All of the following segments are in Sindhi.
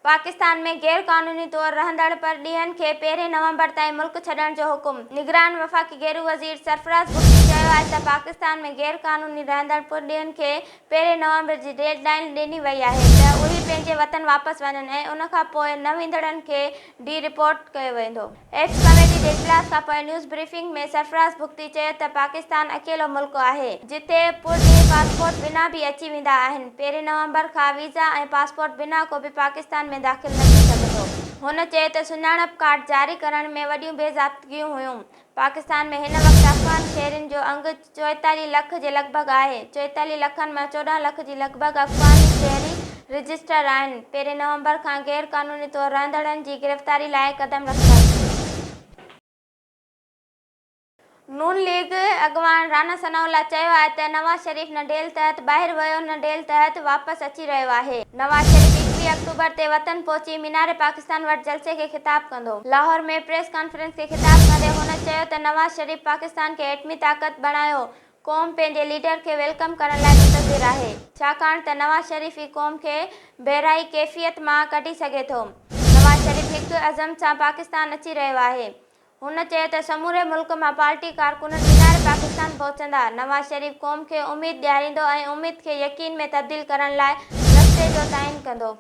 پاڪستان ۾ غير قانوني طور رهندڙ پرڏيهين کي پهرين نومبر تائين ملڪ ڇڏڻ جو حڪم، نگران وفاقي گهرو وزير سرفراز بگٽي چيو آهي ته پاڪستان ۾ غير قانوني رهندڙ پرڏيهين کي پهرين نومبر جي ڊيڊ لائين ڏني وئي آهي ته اهي پنهنجي وطن واپس وڃن ۽ ان کان پوء نه ويندڙن کي ڊي رپورٽ ڪيو ويندو. ايڪس ڪميٽي جي اجلاس کانپوء نيوز بريفنگ ۾ سرفراز بگٽي چيو ته پاڪستان اڪيلو ملڪ آهي جتي پرڏيهي پاسپورٽ بنا به اچي ويندا آهن، پهرين نومبر کان ويزا ۽ پاسپورٽ بنا ڪو به پاڪستان ۾ داخل نه ٿي سگهندو. هن چيو ته سڃاڻپ ڪارڊ جاري ڪرڻ ۾ وڏيون بي ضابطگيون هيون، پاڪستان ۾ هن وقت افغان شهرين جو انگ چوئيتاليهه لک جي لڳ ڀڳ آهي. چوئيتاليهه لکن مان چوڏهن لک جي لڳ ڀڳ افغان شهري رجسٽرڊ آهن. پهرين نومبر کان غير قانوني طور رهندڙن جي گرفتاري لاء قدم رکنداسين. نون ليگ اڳواڻ رانا ثناء الله چيو آهي ته نواز شريف نه ڊيل تحت ٻاهر ويو نه ڊيل تحت واپس اچي رهيو آهي. نواز شريف ايڪويهه آڪٽوبر تي وطن پهچي مينار پاڪستان وٽ جلسي کي خطاب ڪندو. ڪندو. لاهور ۾ پريس ڪانفرنس کي خطاب ڪندي هن چيو ته نواز شريف پاڪستان کي ايٽمي طاقت بڻايو قوم پنهنجي ليڊر کي ويلڪم ڪرڻ لاء منتظر آهي ڇاڪاڻ ته نواز شريف ئي قوم کي بحرائي ڪيفيت مان ڪڍي سگهي ٿو نواز شريف هڪ عزم سان پاڪستان اچي رهيو آهي هن چيو ته سموري ملڪ مان پارٽي ڪارڪنن مينار پاڪستان پهچندا نواز شريف قوم کي اميد ڏياريندو ۽ اميد کي يقين ۾ تبديل ڪرڻ لاء رستي جو تعين ڪندو.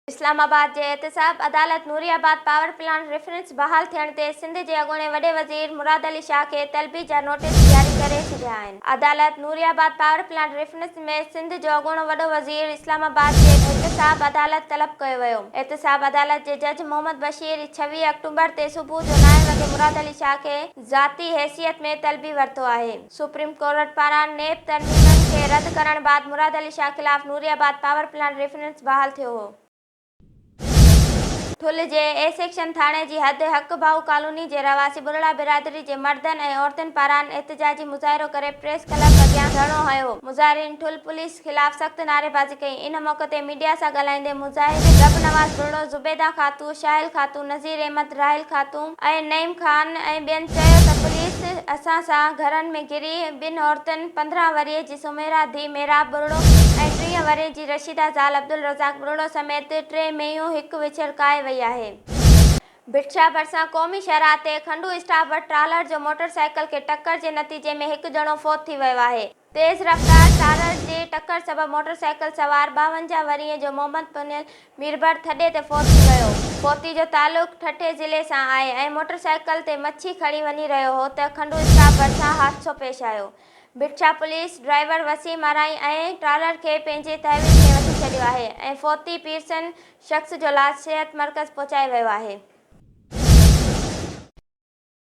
اسلام آباد جي احتساب عدالت Nooriabad power plant reference بحال ٿيڻ تي سنڌ جي اڳوڻي وڏي وزير مراد علي شاهه کي طلبي جا نوٽيس جاري ڪري ڇڏيا آهن. عدالت Nooriabad power plant reference ۾ Sindh جو اڳوڻو وڏو وزير اسلام آباد جي احتساب عدالت طلب ڪيو ويو. احتساب عدالت جي جج محمد بشير ڇويهه آڪٽومبر تي صبح جو نائين وڳي مراد علي شاهه کي ذاتي حيثيت ۾ طلبي ورتو آهي. سپريم ڪورٽ پاران نيب ترميمن کي رد ڪرڻ بعد مراد علي شاهه خلاف Nooriabad power plant reference بحال ٿيو هو. ٺل جي اي سيڪشن ٿاڻي جي حد حق ڀائو ڪالوني جي رهواسي ٻرڙا برادري جي مردن ۽ عورتن پاران احتجاجي مظاهرو ڪري پريس ڪلب اڳيان ڌرڻو هنيو. مظاهرين ٺل پوليس. خلاف سخت نعريبازي ڪئي ان موقعي تي ميڊيا سان ڳالهائيندي مظاهرين رب نواز ٻرڙو، زبيده خاتون، شاهل خاتون، نظير احمد، راحيل خاتون ۽ نعيم خان ۽ ٻين چيو ته پوليس اسان سان گهرن ۾ گهري ٻن عورتن پندرهن ورهيه جي سميرا ڌيء محراب ٻرڙو ۽ ٽيهه ورهيه جي رشيده زال عبدالرزاق ٻرڙو سميت ٽي مينهيون هڪ وڇڙ ڪاهي وئي آهي. ڀٽشاهه ڀرسان قومي شاهراهه تي کنڊو اسٽاپ وٽ ٽرالر جو موٽر سائيڪل کي ٽڪر جي نتيجي ۾ هڪ ڄڻو فوت ٿي ويو آهي. تيز رفتار چارج جي ٽڪر سبب موٽر سائيڪل سوار ٻاونجاهه ورهين جو محمد پنيل ميربحر ٿڏي تي فوت ٿي ويو. فوتي جو تعلق ٺٽي ضلعي سان آهي ۽ موٽر سائيڪل تي مڇي کڻي وڃي رهيو هو ته کنڊو اسٽاپ ڀرسان حادثو پيش آيو. Bhitshah police driver Waseem Arain ۽ trailer کي پنهنجي تحويل ۾ وٺي ڇڏيو آهي ۽ فوتي پيرسن شخص جو لاش صحت مرڪز پهچايو ويو آهي.